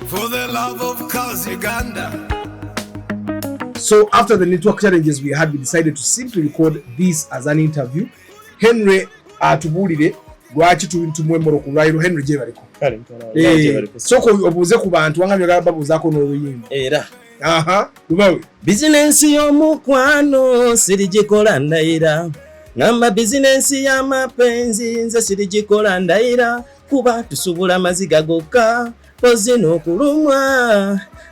For the love of cause Uganda. So after the network challenges we had, we decided to simply record this as an interview. Henry atubulire lwaki tumwemora ku lwaliro Henry gyebaliko eh, soko obuuze ku bantu wanga byogala babuuzaako n'oluyimba era aha lubawe bizinensi y'omukwano sirigikola ndayira ngamba bizinensi y'amapenzi nze sirigikola ndayira kuba tusubula amaziga gokka mpozi n'okulumwa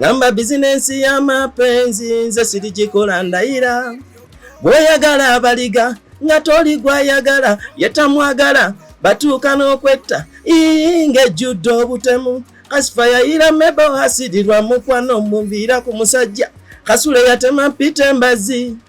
ngamba bizinensi y'amapenzi nze sirigikola ndayira bw'oyagala abaliga nga toli gwayagala yetamwagala batuuka n'okwetta ii ng'ejjudde obutemu kasifa yayira mebo asirirwa mukwano omuviira ku musajja kasule yatema mpita embazi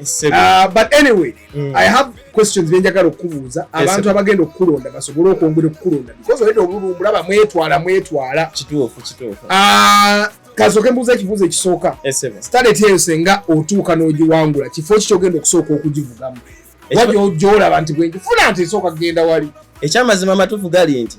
Uh, but anyway mm. i have questions byenjagala okukubuuza abantu abagenda okukulonda basobole okwongera okukulonda because oleta obululumulaba mwetwala mwetwala kituufu kituufu uh, kasoke mbuuza ekibuuzo ekisooka staleti eyo senga otuuka n'ogiwangula kifo ki kyogenda okusooka okugivugamu wajoolaba nti bwenjifuna nti esooka kugenda wali ekyamazima amatuufu gali nti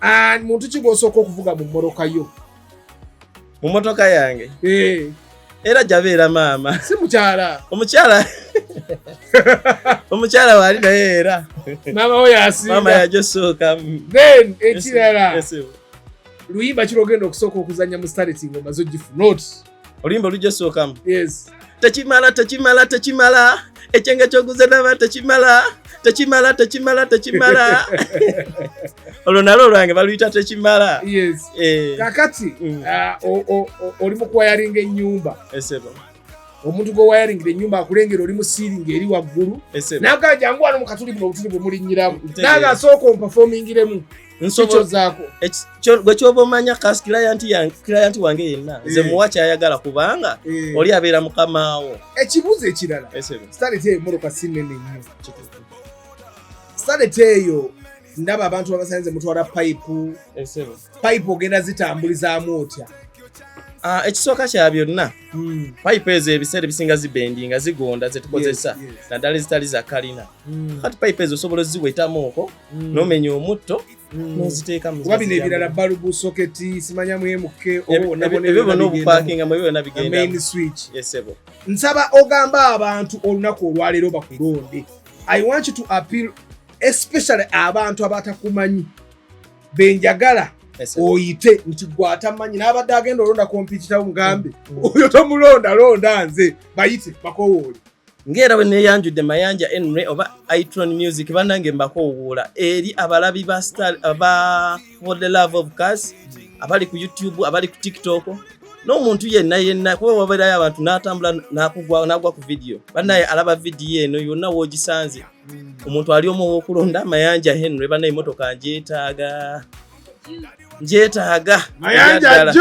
And muntu ki gw'osooka okuvuga mu mmoloka yo? Mu mmotoka yange? Eh. Era gyabeera maama. Si mukyala. Omukyala. Omukyala waali naye era. Maama we yasinga. Maama yagyo sooka. Then ekirala. Yes, yes. luyimba kiri ogenda okusooka okuzanya mu stareti nga omaze ogifuna oti Oluyimba olujja osookamu. Yes. Tekimala tekimala tekimala ekyenge kyoguze naba tekimala tekimala tekimala tekimala olwo nalwo lwange baluyita tekimala yes. eh. kakati mm. uh, oli mukwayaringa enyumba esebo omuntu gwewayaringira enyumba akulengera oli musiringa eri waggulu naga jangu wano mukatuli buno obutuli bwemulinyiramu naga asooka ompafomingiremu gwe kyoba omanya kas client wange yenna eh. nze muwa kyayagala kubanga eh. oli abeera mukamaawo ekibuuzo ekirala saleta eyo moroka sinene nnyo saleta eyo ndaba abantu babasanze mutwala payipu payipu ogenda zitambulizaamu otya Ah, ekisooka kya byonna hmm. payipu ezo ebiseera ebisinga zibendi nga zigonda zetukozesa naddala ezitali za kalina hmm. kati payipu ezo osobola oziwetamuuko mm. nomenya omutto mm. noziteeka mukuba bino ebirala balubu soketi simanya mwemuke ebyo bona obupakinga mu byona bigendamain switch yesebo nsaba ogamba abantu olunaku olwaleero bakulonde i want you to appeal especially abantu abatakumanyi benjagala oyite nti gwatamanyi n'abadde agenda olonda kompititawo mugambe mm, mm. oyo tomulonda londa nze bayite bakowoole ng'era bwe neeyanjudde mayanja enry oba itron music bannange mbakoowuula eri abalabi ba star ba for the love of cas abali ku youtube abali ku tiktok n'omuntu yenna yenna kuba wabeerayo abantu n'atambula nakugwa nagwa ku vidiyo bannaye alaba vidiyo eno yonna woogisanze omuntu ali omu ow'okulonda mayanja henry bannaye emotoka njeetaaga ngyetaaga mayanja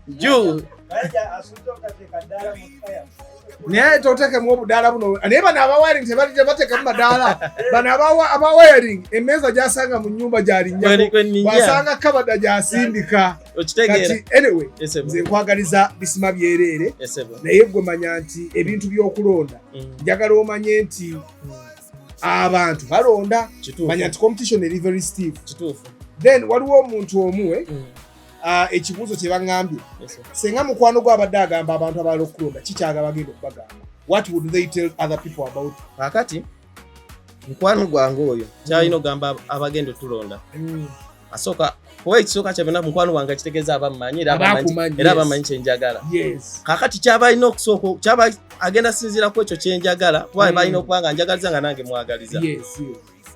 juu naye totekemu obudaala buno naye bano abawaring tebatekamu madaala bano abawaring emeeza gyasanga mu nyumba gyalinyawasanga kabada gyasindika kati anyway nze nkwagaliza bisima byereere naye gwe manya nti ebintu byokulonda mm. njagala omanye nti mm. abantu balonda manya nti competition eri very stiff then waliwo omuntu omuwe mm. ah, ekibuuzo kye baŋambye senga mukwano gwe abadde agamba abantu abaala okulonda kikyaga bagenda okubagamba what would they tell other people about kakati mukwano gwange oyo kyalina mm. ogamba abagenda otulonda mm. asooka kuba ekisooka kyabona mukwano wange kitegeeza abammanyi era abamanyi kyenjagala kakati kyaba alina okusooka kyaba agenda sinziira ku ekyo kyenjagala kuba mm. balina okuba nga njagaliza nga nange mwagaliza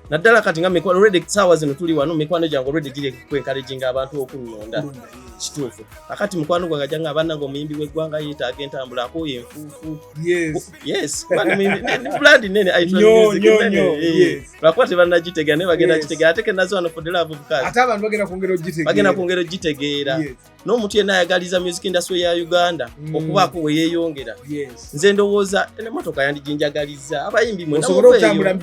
naddala kati nga mikwano redi saawa zino tuli wano mikwano gyange olwedi giri kwenkaleginga abantu okunnonda kituufu kakati mukwano gwange janga abananga omuyimbi w'eggwanga yeetaaga entambula akooye enfuufu yes blood nene lwakuba tebanagitegeera naye bagenda kitegeera ate kenazi wano fodelavubukaziagenda kwongera ogitegeera n'omuntu yenna ayagaliza music industry ya uganda mm. okubaako weyeyongera nze ndowooza emotoka yandiginjagaliza abayimbi mwesobola otambula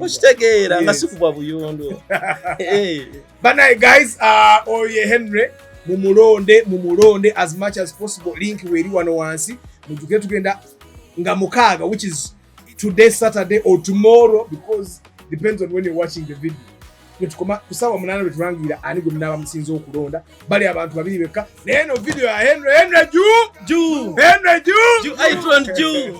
okitegeera nga sikubwa buyondo banaye guys uh, oyo ye henry mumulonde mumulonde as much as possible link weeri wano wansi mujuke tugenda nga mukaaga which is today saturday or tomorrow because depends on when you're watching the video netukoma kusawa munana betulangira ani gwe munaba musinza okulonda bali abantu babiri bekka naye no video ya henry henry ju ju henry ju ju i don't ju